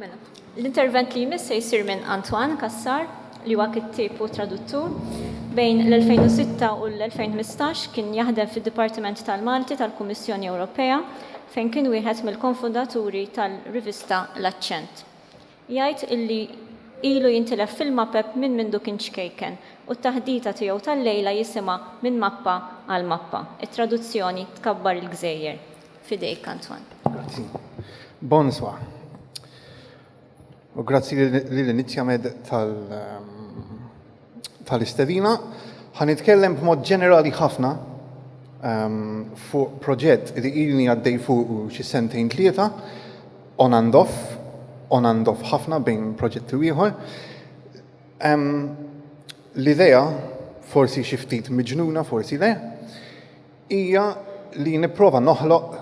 Mela, l-intervent li jmiss se jsir minn Antoine Cassar, li huwa kittieb u traduttur. Bejn l-2006 u l-2015 kien jaħdem fid-Dipartiment tal-Malti tal-Kummissjoni Ewropea fejn kien wieħed mill-konfundaturi tal-rivista L-Aċċent. Jgħid illi ilu jintilef fil-mapep minn mindu kien ċkejken u t-taħdita tiegħu tal-lejla jisimha Minn Mappa għal Mappa, it-traduzzjoni Tkabbar il-Gżejjer. Fidejk, Antoine. Grazzi. Bonswa. U grazzi lil Inizjamed ehm, tal-istedina. Ħan nitkellem b'mod ġenerali ħafna ehm, fuq proġett li ilni għaddej fuq xi sentejn tlieta on and off, on and off ħafna bejn proġett u ieħor. L-idea forsi xi ftit miġnuna, forsi le, hija li nipprova noħloq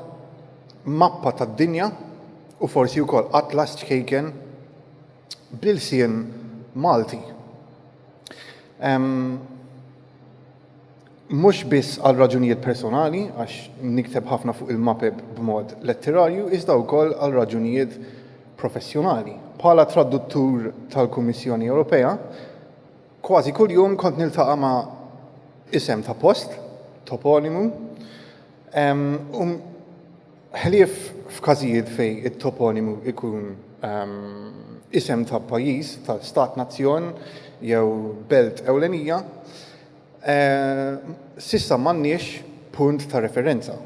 mappa tad-dinja u forsi wkoll atlas ċkejken bl-ilsien Malti. Mhux biss għal raġunijiet personali, għax nikteb ħafna fuq il-mapep b'mod letterarju, iżda wkoll għal raġunijiet professjonali. Bħala traduttur tal-Kummissjoni Ewropea, Kważi kuljum kont niltaqa' ma' isem ta' post, toponimu, u ħlief f'każijiet fejn it-toponimu jkun isem ta' pajjiż, ta' stat nazzjon jew belt ewlenija, s'issa m'għandniex punt ta' referenza.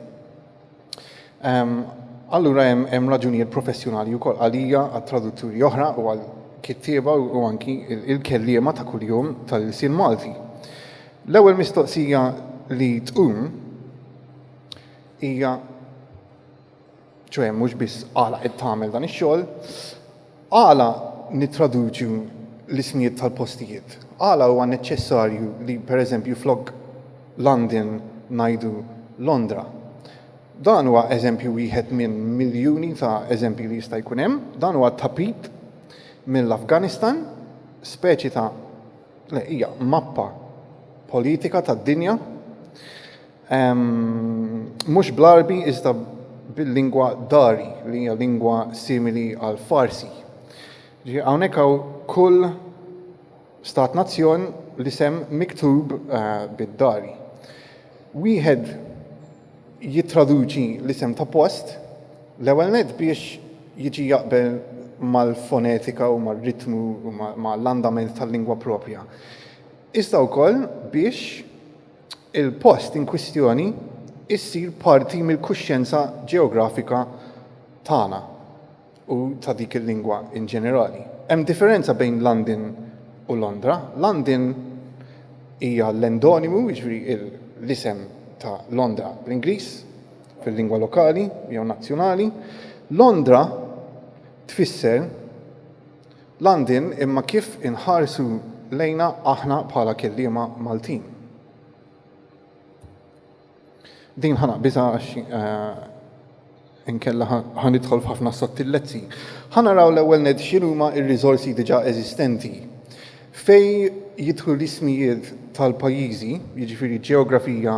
Allura hemm raġunijiet professjonali wkoll għalija għat-tradutturi oħra u għal kittieba u anki il-kelliema ta' kuljum tal-ilsien Malti. L-ewwel mistoqsija li tqum hija ċoe mhux biss għala qed tagħmel dan ix-xogħol, Għala nittraduċu l-ismijiet tal-postijiet? Għala huwa neċċessarju li, per eżempju, flok London ngħidu Londra? Dan huwa eżempju wieħed minn miljuni ta' eżempji li jista' jkun hemm. Dan huwa tapit mill-Afganistan, speċi ta' le, hija mappa politika tad-dinja. Mhux bl-Għarbi iżda bil-lingwa Dari li hija lingwa simili għal Farsi. Ġi hawnhekk hawn kull stat nazzjon li sem miktub eh, bid-Dari. Wieħed jittraduċi l-isem ta' post l-ewwel net biex jiġi jaqbel mal-fonetika u mar-ritmu u mal-andament tal-lingwa propja. Iżda wkoll biex il-post inkwistjoni jsir parti mill-kuxjenza ġeografika tagħna u ta' dik il-lingwa in ġenerali. Hemm differenza bejn London u Londra. London hija l-endonimu, jiġifieri l-isem ta' Londra bl-Ingliż, fil-lingwa lokali jew nazzjonali. Londra tfisser Landin imma kif inħarsu lejna aħna bħala kelliema Maltin. Din ħa naqbiżha għax inkella ħa nidħol f'ħafna sottillezzi. Ħa naraw l-ewwel nett x'inhuma r-riżorsi diġà eżistenti. Fejn jidħlu l-ismijiet tal-pajjiżi, jiġifieri ġeografija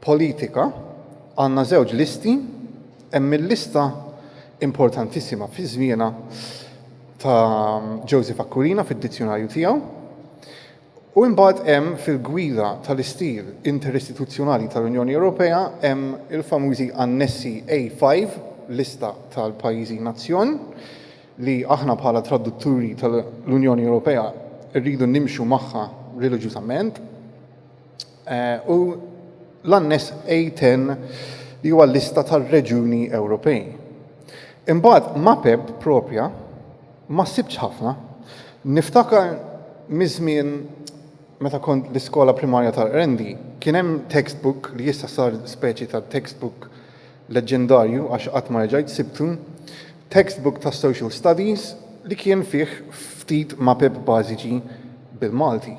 politika, għandna żewġ listi, hemm il-lista importantissima fi żmienha ta' Joseph Aquilina fid-dizzjunarju tiegħu. U imbagħad hemm fil-gwida tal-istil interistituzzjonali tal-Unjoni Ewropea hemm il-famużi annessi A5, lista tal-pajjiżi nazzjon, li aħna bħala tradutturi tal-Unjoni Ewropea rridu nimxu magħha reliġjużament. u l-Anness A10 li huwa l-lista tar-reġjuni Ewropej. Imbagħad mapeb propja ma sibtx ħafna. Niftakar miż-żmien meta kont l-iskola primarja tal-Qrendi, kien hemm textbook li issa sar speċi ta' textbook leġġendarju għax qatt ma reġajt sibtu, textbook ta' social studies li kien fih ftit mapeb bażiċi bil-Malti.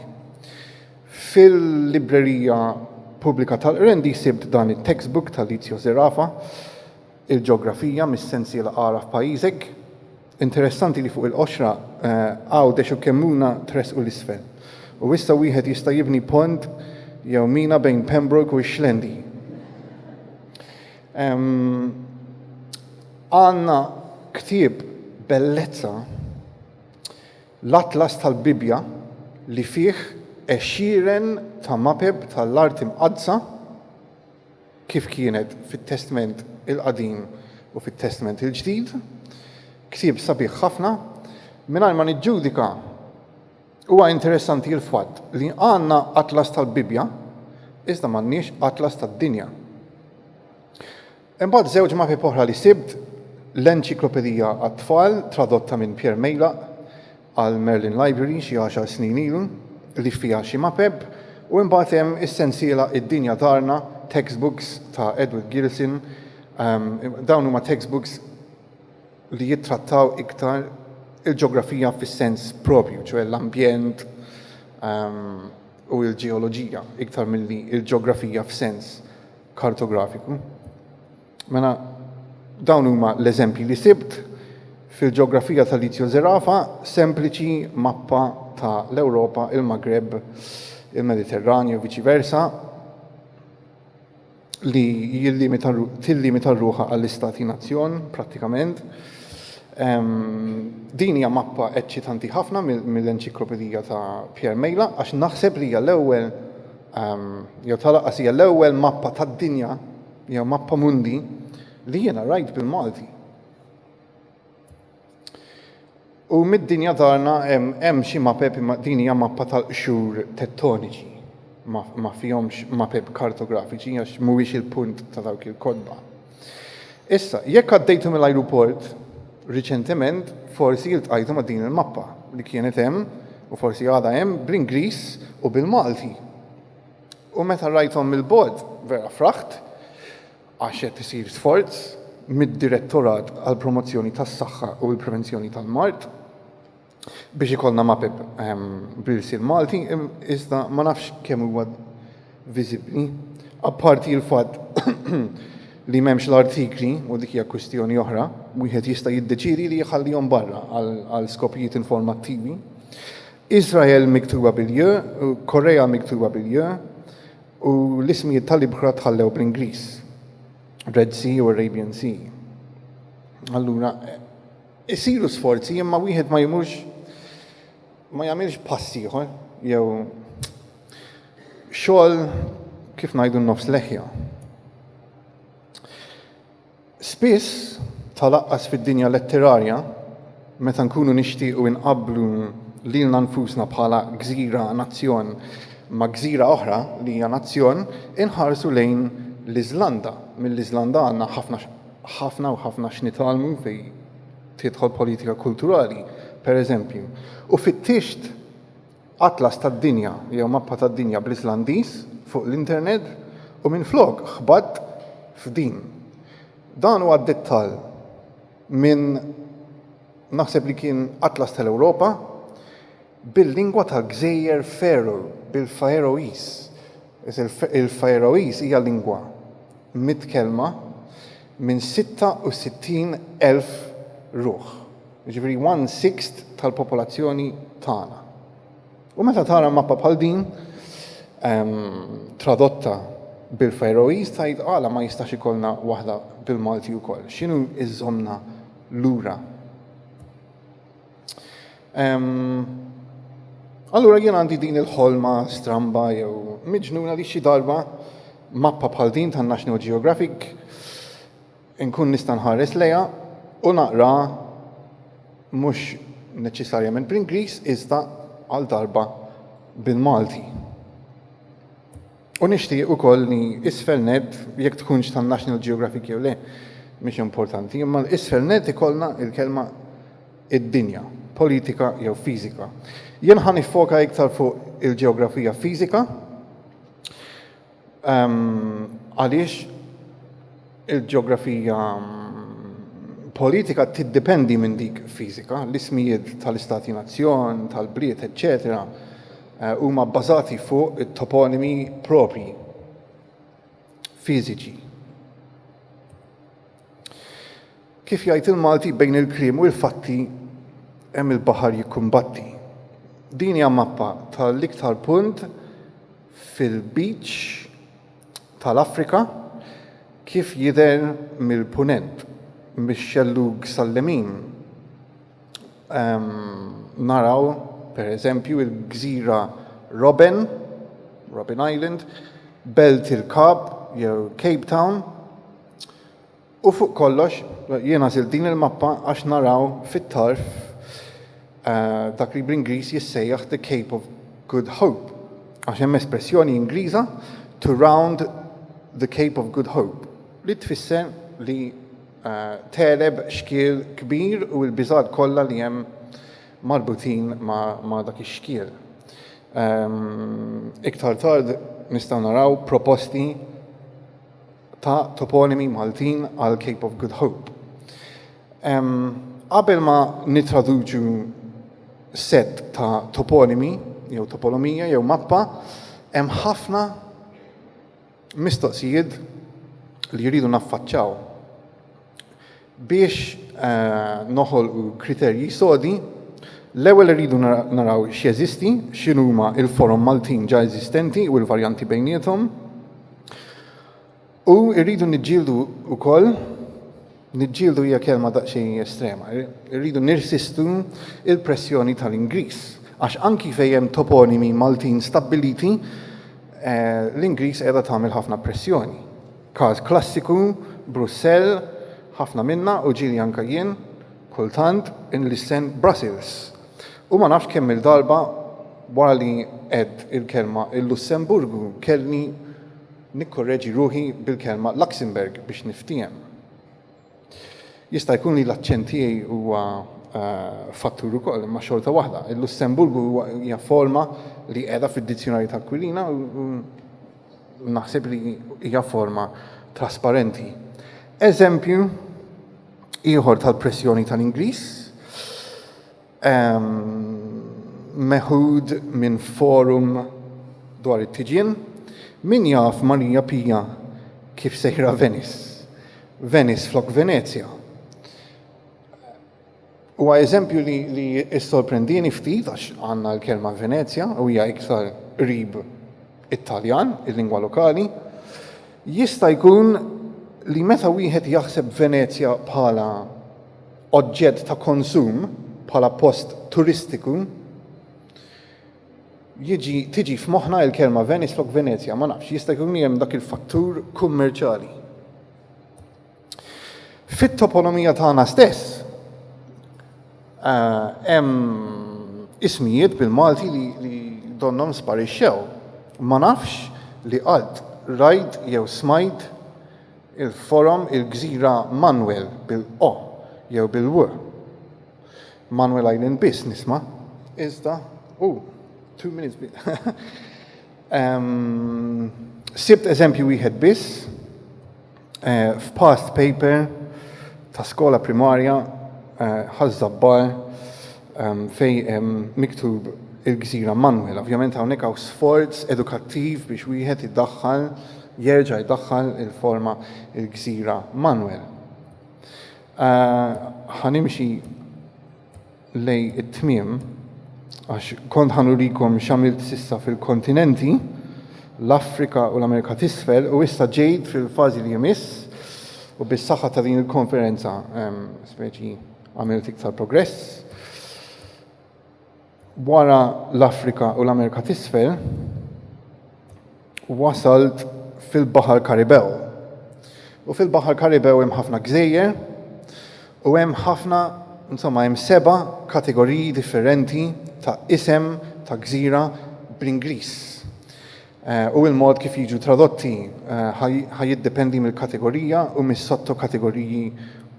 Fil-Librerija Pubblika tal-Qrendi sibt dan it-textbook ta' Lizio Zerafa, Il-Ġeografija mis-sensiela Agħraf Pajjiżek. Interessanti li fuq il-qoxra Għawdex u Kemmuna tressqu 'l isfel, u issa wieħed jista' jibni pont jew mina bejn Pembroke u x-Xlendi. Għandna ktieb bellezza. L-Atlas tal-Bibbja li fih għexieren ta' mapep tal-Art Imqaddsa kif kienet fit-Testment il-Qadim u fit-Testment il-Ġdid, ktieb sabiħ ħafna. Mingħajr ma niġġudika, huwa interessanti l-fatt li għandna Atlas tal-Bibbja iżda m'għandniex Atlas tad-Dinja. Imbagħad żewġ mapep oħra li sibt, l-enċiklopedija għat-tfal tradotta minn Pierre Meylaq għall-Merlin Library xi għaxar snin ilu li fiha xi mapep u imbagħad hemm is-sensiela Id-Dinja Darna, Textbooks ta' Edward Gilson, dawn huma textbooks li jittrattaw iktar il-ġeografija fis-sens proprju, ċoe l-ambjent u l-ġeoloġija iktar milli l-ġeografija f'sens kartografiku. Mela dawn huma l-eżempji li sibt fil-ġeografija tal-Lizio Zerafa, sempliċi mappa ta' l-Ewropa, il-Magreb, il-Mediterranju, viċi versa, li tillimita ruħa għall-istati nazzjon, prattikament. Din hija mappa eċċitanti ħafna mill-enċiklopedija ta' Pierre Mejla, għax naħseb li hija l-ewwel jew ta' lanqas hija l-ewwel mappa tad-dinja jew mappa mundi li jiena rajt bil-Malti. U mid-dinja darna hemm xi mapep imma din hija mappa tal-qxur tettoniċi ma fihomx mapep kartografiċi għax mhuwiex il-punt ta' dawk il-kotba. Issa, jekk għaddejtu mill-ajruport riċentement, forsi iltqajtu ma' din il-mappa li kienet hemm u forsi għadha hemm bl-Ingliż u bil-Malti. U meta rajthom mill-bogħod vera fraħt għax qed isir sforz mid-Direttorat għall-Promozzjoni tas-Saħħa u l-Prevenzjoni tal-Mard biex ikollna mapep bl-ilsien Malti, iżda ma nafx kemm huwa viżibbli, apparti l-fatt li m'hemmx l-artikli u dik hija kwistjoni oħra, wieħed jista' jiddeċiedi li jħallihom barra għal skopijiet informattivi. Iżrael miktuba bil-j, Korea miktuba bil-j, u l-ismijiet tal-ibħra tħallew bl-Ingliż, Red Sea u Arabian Sea. Allura, Isiru sforzi imma wieħed ma jmurx ma jagħmilx pass ieħor jew xogħol kif ngħidu nofs leħja. Spiss tal-aqqas fid-dinja letterarja meta nkunu nixtiequ inqabblu lilna nfusna bħala gżira nazzjon ma' gżira oħra li hija nazzjon inħarsu lejn l-Iżlanda. Mill-Iżlanda għandna ħafna ħafna u ħafna x'nitgħallmu fi tidħol politika kulturali, per eżempju. U fittixt atlas tad-dinja jew mappa tad-dinja bl-Islandiż fuq l-internet u minflok ħbatt f'din. Dan huwa dettall minn naħseb li kien atlas tal-Ewropa, bil-lingwa tal-Gżejjer Faeroe, bil-Faeroese, il-Faeroese hija lingwa mitkellma minn 66,000 ruħ, jiġifieri one sixth tal-popolazzjoni tagħna. U meta tara mappa bħal din tradotta bil-Faeroese tgħid għala ma jistax ikollna waħda bil-Malti wkoll? X'inhu jżommna lura? Allura jien għandi din il-ħolma stramba jew miġnuna li xi darba mappa bħal din tan National Geographic nkun nista' nħares lejha u naqra mhux neċessarjament bl-Ingliż iżda għal darba bil-Malti. U nixtieq ukoll li isfel nett, jekk tkunx tan-National Geographic jew le, mhix importanti, imma isfel nett ikollna l-kelma id-dinja, politika jew fiżika. Jien ħa niffoka iktar fuq il-ġeografija fiżika ehm, għaliex Il-ġeografija politika tiddependi minn dik fiżika, l-ismijiet tal-istati-nazzjon, tal-bliet, eċċetera huma bbażati fuq it-toponimi proprji fiżiċi. Kif jgħid il-Malti bejn il-kliem u l-fatti hemm il-baħar jikkumbatti. Din hija mappa tal-iktar punt fil-beach tal-Afrika kif jidher mill-Punent, mix-xellug sal-lemin naraw pereżempju l-gżira Robben, Robben Island, belt il-Kap jew Cape Town, U fuq kollox, jiena għażilt din il-mappa għax naraw fit-tarf dak li bl-Ingliż jissejjaħ the Cape of Good Hope, għax hemm espressjoni Ingliża to round the Cape of Good Hope, li tfisser li tegħleb xkiel kbir u l-biżgħat kollha li hemm marbutin ma' dak ix-xkiel. Iktar tard nistgħu naraw proposti. ta' toponimi Maltin għal Cape of Good Hope. Qabel ma nitraduċu set ta' toponimi, jew topolomija, jew mappa, hemm ħafna mistoqsijiet li jridu naffaċċaw. Biex noħolqu kriterji sodi, l-ewwel irridu naraw x'jeżisti, x'inhuma l-forom Maltin ġa eżistenti u l-varjanti bejniethom. U rridu niġġieldu wkoll, niġġieldu hija kelma daqsxejn estrema, irridu nirsistu l-pressjoni tal-Ingliż, għax anki fejn hemm toponimi Maltin stabbiliti, l-Ingliż qiegħda tagħmel ħafna pressjoni. Każ klassiku, Brussell, ħafna minna u ġieli anke jien, kultant, inlissen Brussels. U ma nafx kemm-il darba wara li għedt il-kelma il-Lussemburgu kellni nikkorreġi ruħi bil-kelma Luxembourg biex niftiehem. Jista' jkun li l-aċċent tiegħi huwa fattur ukoll, imma xorta waħda, il-Lussemburgu huwa hija forma li qiegħda fid-dizzjunarju ta' Aquilina u naħseb li hija forma trasparenti. Eżempju ieħor tal-pressjoni tal-Ingliż Meħud minn forum dwar it-tiġien, Min jaf Marija Pija kif sejra Venice? Venice flok Venezja. Huwa eżempju li, li issorprendini ftit għax għandna l-kelma Venezja u hija iktar qrib it-Taljan, il-lingwa lokali. Jista' jkun li meta wieħed jaħseb Venezja bħala oġġett ta' konsum bħala post turistiku, jiġi tiġi f'moħħna l-kelma Venice flok Venezja, ma nafx, jista' jkun li hemm dak il-fattur kummerċjali. Fit-toponomija tagħna stess eh, hemm ismijiet bil-Malti li, li donnom sparixxew. Ma nafx li qalb rajt jew smajt Il-forom il-gżira Manuel bil-'o' jew bil-'w'. Manuel Island biss nisma'. Iżda, ooh, two minutes biss. Ehm, sibt eżempju wieħed biss f'past paper ta' skola primarja, Ħaż-Żabbar, fejn hemm miktub il-gżira Manwel. Ovvjament hawnhekk hawn sforz edukattiv biex wieħed iddaħħal jerġa' jdaħħal il-forma il-gżira Manwel. Ħanimxi lej it-tmiem għax kont ħanurikom x'għamilt sissa fil-kontinenti, l-Afrika u l-Amerika t'isfel u issa ġejt fil-fażi li jmiss u bis-saħħa ta' din il-konferenza speċi Għamilt iktar progress. Wara l-Afrika u l-Amerika t'isfel, wasalt fil-Baħar Karibew. U fil-Baħar Karibew hemm ħafna gżejjer u hemm ħafna, insomma, hemm seba' kategoriji differenti ta' isem ta' gżira bl-Ingliż. u l-mod kif jiġu tradotti ħa jiddependi mill-kategorija u mis-sottokategoriji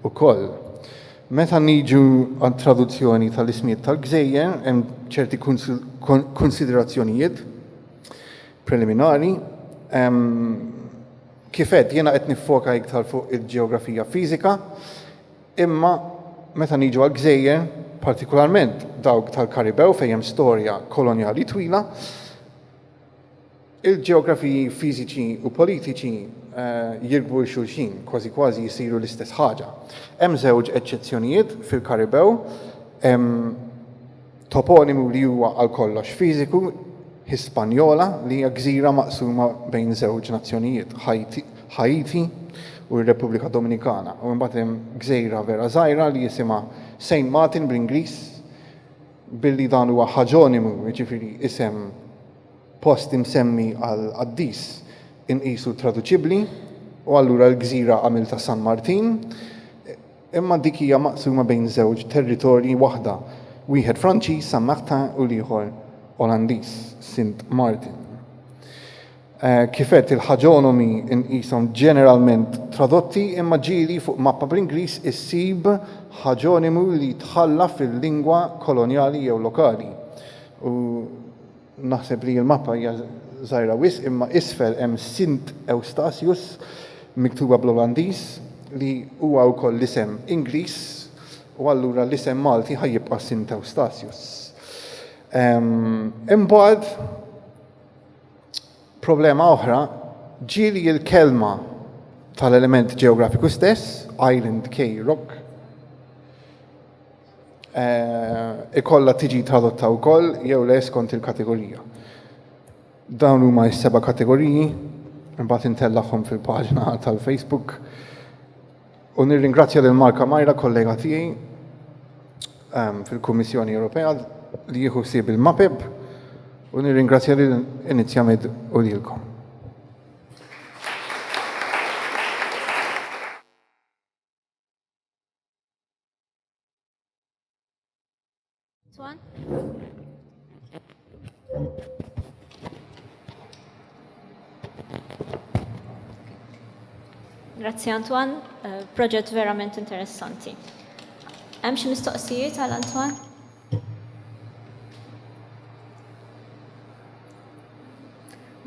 wkoll. Meta niġu għat-traduzzjoni tal-ismijiet tal-gżejjer hemm ċerti kunsiderazzjonijiet preliminari. Kif għedt jiena qed niffoka iktar fuq il-ġeografija fiżika, imma meta niġu għall-gżejjer, partikularment dawk tal-Karibew fejn hemm storja kolonjali twila, Il-ġeografiji fiżiċi u politiċi jirkbu 'l xulxin, kważi kważi jsiru l-istess ħaġa. Hemm żewġ eċċezzjonijiet fil-Karibew, hemm toponimu li huwa għal kollox fiżiku, Hispaniola, li hija gżira maqsuma bejn żewġ nazzjonijiet, Ħaiti u r-Repubblika Dominikana, u mbagħad hemm gżejra vera żgħira li jisimha Saint Martin bl-Ingliż, Billi dan huwa ħaġonimu, jiġifieri isem post imsemmi għal qaddis, inqisu traduċibbli, u allura l-gżira għamiltha San Martin, imma dik hija maqsuma bejn żewġ territorji waħda, wieħed Franċiż, Saint-Martin, u l-ieħor Olandiż, Sint Maarten. Kif għedt, il-ħaġonomi nqishom ġeneralment tradotti imma ġieli fuq mappa bl-Ingliż issib ħaġonimu li tħalla fil-lingwa kolonjali jew lokali. U naħseb li l-mappa hija żgħira wisq imma isfel hemm Sint Eustatius miktuba bl-Olandiż li huwa wkoll l-isem Ingliż u allura l-isem Malti ħa jibqa' Sint Eustatius. Imbagħad Problema oħra, ġieli l-kelma tal-element ġeografiku stess, island key rock, eh, ikolla tiġi tradotta wkoll jew le skont il-kategorija. Dawn huma s-seba' kategoriji, imbagħad intellagħhom fil-paġna tal-Facebook. U nirringrazzja lil Mark Amajra, kollega tiegħi ehm, fil-Kummissjoni Ewropea li jieħu ħsieb il-MAPEB u nirringrazzja lil Inizjamed u lilkom. Grazie Antoine, uh, proġett verament interessanti. Hemm xi mistoqsijiet għal Antoine?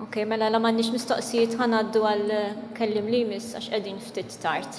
Ok, mela la m'għandix mistoqsijiet ħanaddu għal eh, kellim li jmiss għax qegħdin ftit tard.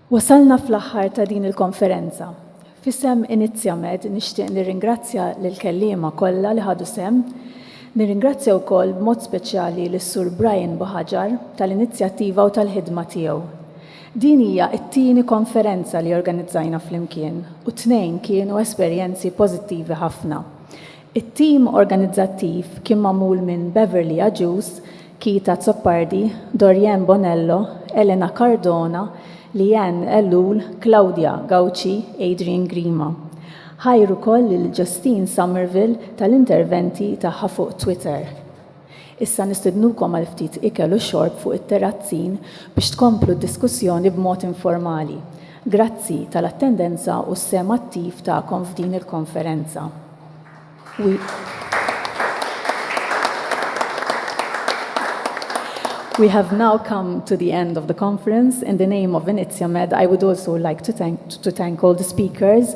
Wasalna fl-aħħar ta' din il-konferenza. F'isem Inizjamed nixtieq nirringrazzja lill-kelliema kollha li ħadu sehem. Nirringrazzja wkoll b'mod speċjali lis-Sur Brian Buhaġar tal-inizjattiva u tal-ħidma tiegħu. Din hija t-tieni konferenza li organizzajna flimkien u t-tnejn kienu esperjenzi pożittivi ħafna. It-tim organizzattiv kien magħmul minn Beverly Agius, Keith Azzopardi, Dorianne Bonello, Elena Cardona, Leanne Ellul, Claudia Gauci, Adrian Grima. Ħajr ukoll lil Justine Somerville tal-interventi tagħha fuq Twitter. Issa nistednukom għal ftit ikel u xorb fuq it-terrazzin biex tkomplu d-diskussjoni b'mod informali. Grazzi tal-attendenza u s-sehem attiv tagħkom f'din il-konferenza. We have now come to the end of the conference. In the name of Iniziomed, I would also like to thank all the speakers